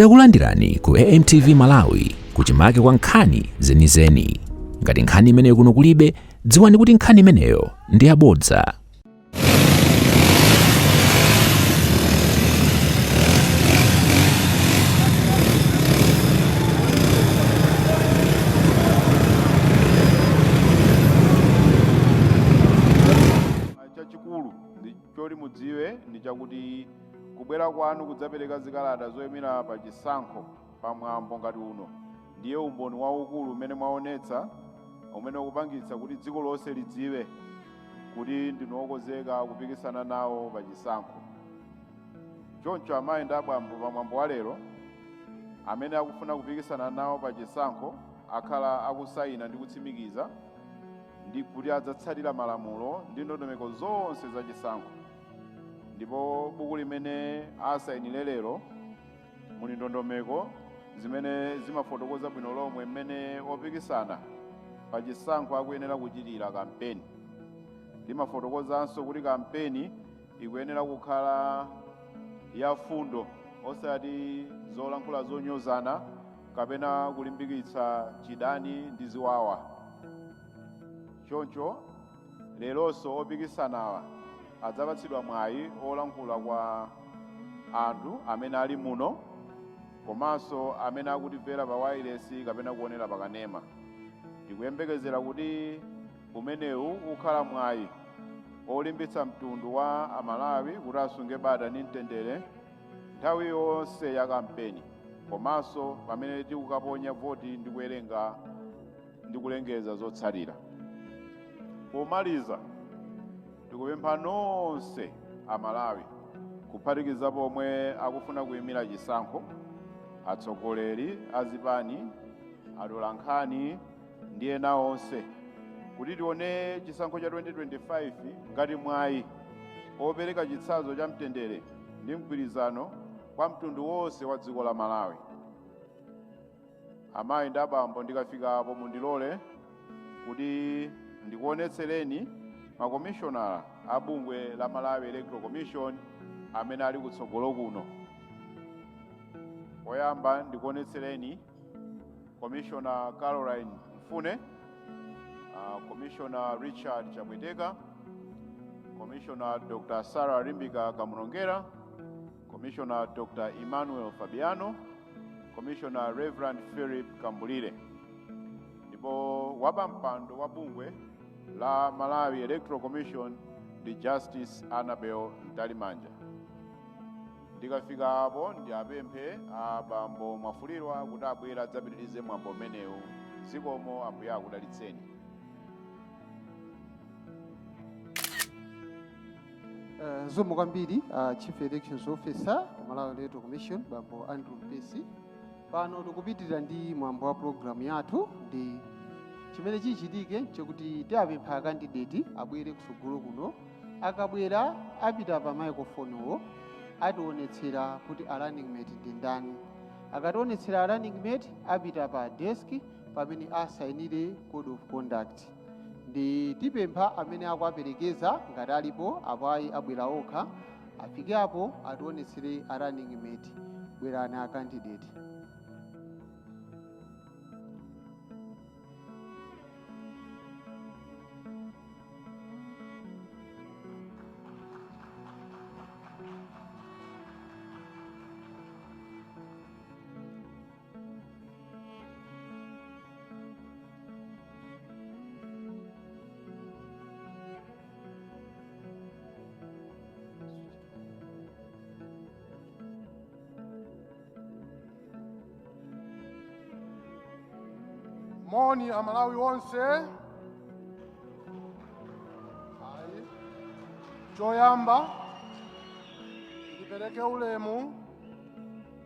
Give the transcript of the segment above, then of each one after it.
Takulandirani ku AMTV Malawi kuchimake kwa nkhani zenizeni. Ngati nkhani imeneyo kuno kulibe, dziwani kuti nkhani imeneyo ndi yabodza. chachikulu choti mudziwe ndi chakuti Kubwera kwanu kudzapereka zikalata zoyimira pa chisankho pa mwambo ngati uno ndiye umboni waukulu umene mwaonetsa umene ukupangitsa kuti dziko lonse lidziwe kuti ndinu okonzeka kupikisana nawo pa chisankho. Choncho amayi ndi abambo pa mwambo wa lero amene akufuna kupikisana nawo pa chisankho akhala akusayina ndi kutsimikiza ndi kuti adzatsatira malamulo ndi ndondomeko zonse za chisankho. ndipo buku limene asayinire lero muli ndondomeko zimene zimafotokoza bwino lomwe mmene opikisana pa chisankho akuyenera kuchitira kampeni limafotokozanso kuti kampeni ikuyenera kukhala yafundo osati zolankhula zonyozana kapena kulimbikitsa chidani ndi ziwawa choncho Leronso opikisanawa adzapatsidwa mwayi olankhula kwa anthu amene ali muno komanso amene akutimvera pa wailesi kapena kuonera pa kanema. Tikuyembekezera kuti umenewu ukhala mwayi olimbitsa mtundu wa Amalawi kuti asunge bata ndi mtendere nthawi yonse ya kampeni komanso pamene tikukaponya voti ndi kuwerenga ndi kulengeza zotsatira. Pomaliza, tikupempha nonse Amalawi kuphatikizapo omwe akufuna kuyimira chisankho, atsogoleri a zipani, atolankhani ndi ena onse kuti tione chisankho cha 2025 ngati mwayi opereka chitsanzo cha mtendere ndi mgwirizano kwa mtundu wonse wa dziko la Malawi. amayi ndi abambo ndikafika apo mundilole kuti ndikuonetsereni makomishonala a bungwe la malawi electoral commission amene ali kutsogolo kuno poyamba ndikuonetsereni komishona caroline mfune uh, komishona richard chapweteka komishona dr sarah limbika kamlongera Commissioner Dr. Emmanuel Fabiano, Commissioner Reverend Philip Kambulire. Ndipo wapampando wa bungwe la Malawi Electoral Commission ndi Justice Annabel Mtalimanja. Ndikafika apo ndiwapemphe a bambo Mwafulirwa kuti abwere adzapitirize mwambo umenewu. Zikomo ambuye akudalitseni. Eh, Zikomo kwambiri uh, Chief Elections Officer ku Malawi Electoral Commission bambo Andrew Mpesi. Pano tikupitirira ndi mwambo wa programu yathu ndi chimene chichitike nchakuti tiapempha akandideti abwere kusogolo kuno akabwera apita pa microphone-wo ationetsera kuti a running mate ndi ndani akationetsera a running mate apita pa desk pamene asayinire code of conduct ndi tiapempha amene akuwaperekeza ngati alipo apo ayi abwera okha afike apo ationetsere a running mate bwerani a candidate moni amalawi onse choyamba ndipereke ulemu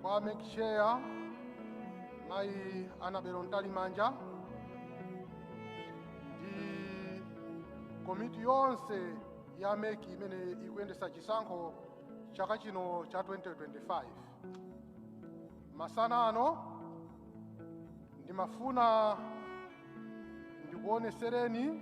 kwa MEC chair mayi anabelo mtalimanja ndi komiti yonse ya MEC imene ikuyendesa chisankho chaka chino cha 2025 masana ano ndimafuna ndikuonesereni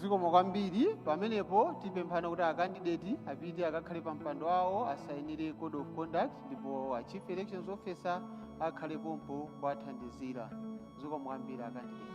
zikomo kwambiri pamenepo tipemphana kuti akandideti apite akakhale pa mpando wawo asayinire code of conduct ndipo a chief elections officer akhale pompo kuwathandizira zikomo kwambiri akandideti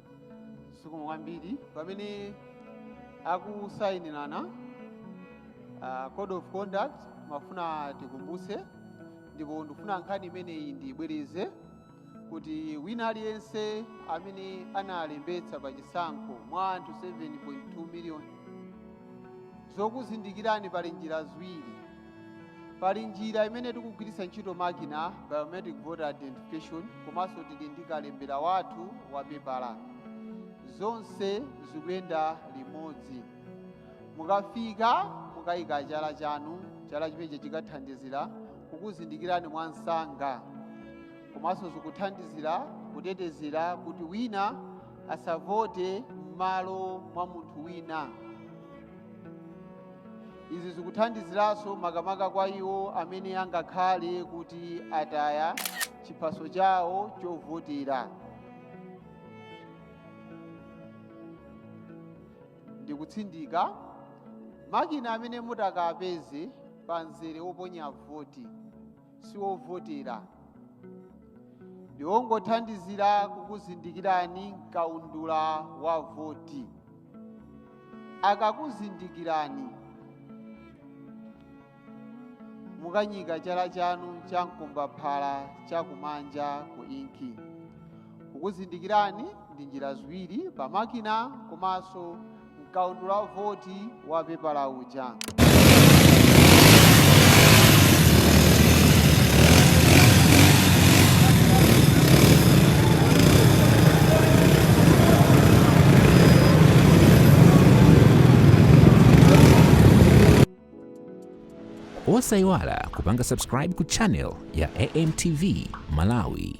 zikomo kwambiri pamene akusayinira uh, code of conduct ndimafuna tikumbutse ndipo ndifuna nkhani imeneyi ndiyibwereze kuti wina aliyense amene analembetsa pa chisankho mwa anthu 7.2 miliyoni zokuzindikirani pali njira ziwiri pali njira imene tikugwiritsa ntchito makina biometric voter identification komanso tili ndi kalembera wathu wa pepala zonse zikuyenda limodzi mukafika mukayika chala chanu chala chimenechi chikathandizira kukuzindikirani mwa msanga komanso zikuthandizira kutetezera kuti wina asavote m'malo mwa munthu wina Izi zikuthandiziranso makamaka kwa iwo amene angakhale kuti ataya chiphaso chawo chovotera. Ndikutsindika, makina amene mutakapeze pa mzere woponya voti. si wovotera ndi wongothandizira kukuzindikirani mkaundula wa voti akakuzindikirani mukanyika chala chanu cha mkombaphala chakumanja ku inki kukuzindikirani ndi njira ziwiri pa makina komanso mkaundula wa voti wa pepala uja osayiwala kupanga subscribe ku channel ya amtv malawi